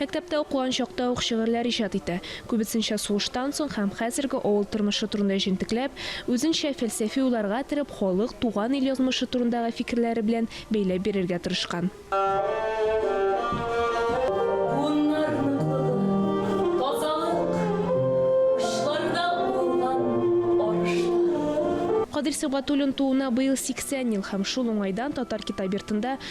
Мәктәптә укыган чакта ук шигырьләр иҗат итә, күбесенчә сугыштан соң һәм хәзерге авыл тормышы турында җентекләп, үзенчә фәлсәфи уйларга кереп, халык, туган ил язмышы турындагы фикерләре белән бәйләп бирергә тырышкан. Буыннар ныклыгы, тазалык, учларда уңган арышлар. Кадир Сибгатуллин тууына быел 80 ел һәм шул уңайдан Татар китап йортында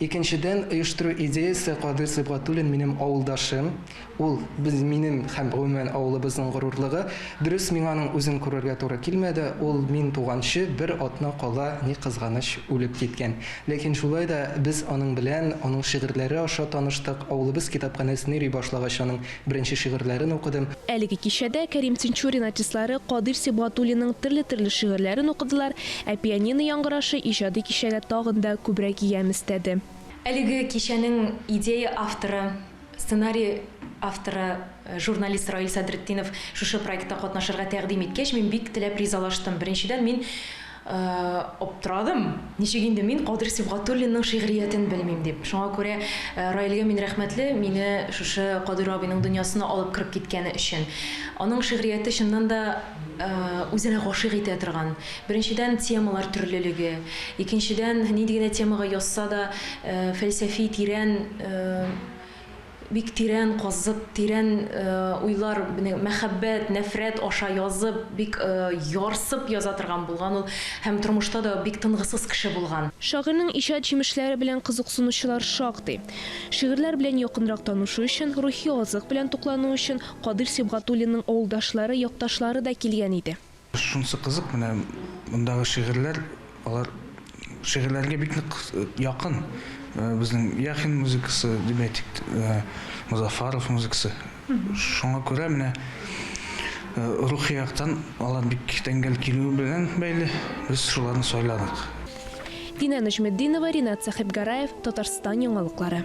Икенчедән, оештыру идеясе Кадыйр Сибгатуллин минем авылдашым, ул, без, минем һәм, гомумән, авылыбызның горурлыгы. Дөрес, миңа аның үзен күрергә туры килмәде, ул мин туганчы бер атна кала, ни кызганыч, үлеп киткән. Ләкин шулай да без аның белән, аның шигырьләре аша таныштык, авылыбыз китапханәсен йөри башлагач, аның Беренче шигырьләрен укыдым. Әлеге кичәдә Кәрим Тинчурин артистлары Кадыйр Сибгатуллинның төрле-төрле шигырьләрен укыдылар, ә пианино яңгырашы иҗади кичәгә тагын да күбрәк ямь өстәде. Әлеге кичәнең идея авторы, сценарий авторы, журналист Раил Садретдинов шушы проектта катнашырга тәкъдим иткәч, мин бик теләп ризалаштым. Беренчедән, мин Аптырадым, ничек инде мин Кадер Сибгатуллинның шигъриятен белмим дип. Шуңа күрә Раилгә мин рәхмәтле, мине шушы Кадер абыйның дөньясына алып кереп киткәне өчен. Аның шигърияте чыннан да үзенә гашыйк итә торган. Беренчедән, темалар төрлелеге. Икенчедән, нинди генә темага язса да, фәлсәфи, тирән, Бик тирән казып, тирән уйлар, мәхәббәт, нәфрәт аша язып, бик ярсып яза торган булган ул һәм тормышта да бик тынгысыз кеше булган. Шагыйрьнең иҗат җимешләре белән кызыксынучылар шактый. Шигырьләр белән якынрак танышу өчен, рухи азык белән туклану өчен Кадыйр Сибгатуллинның авылдашлары, якташлары да килгән иде. Шунысы кызык, менә мондагы шигырьләр, алар шигырьләргә бик нык якын. Безнең Яхин музыкасы, дип әйтик, Мозафаров музыкасы. Шуңа күрә менә рухи яктан алар бик тәңгәл килүе белән бәйле, без шуларны сайладык. Динә Нәҗметдинова, Ринат Сәхибгараев, Татарстан яңалыклары.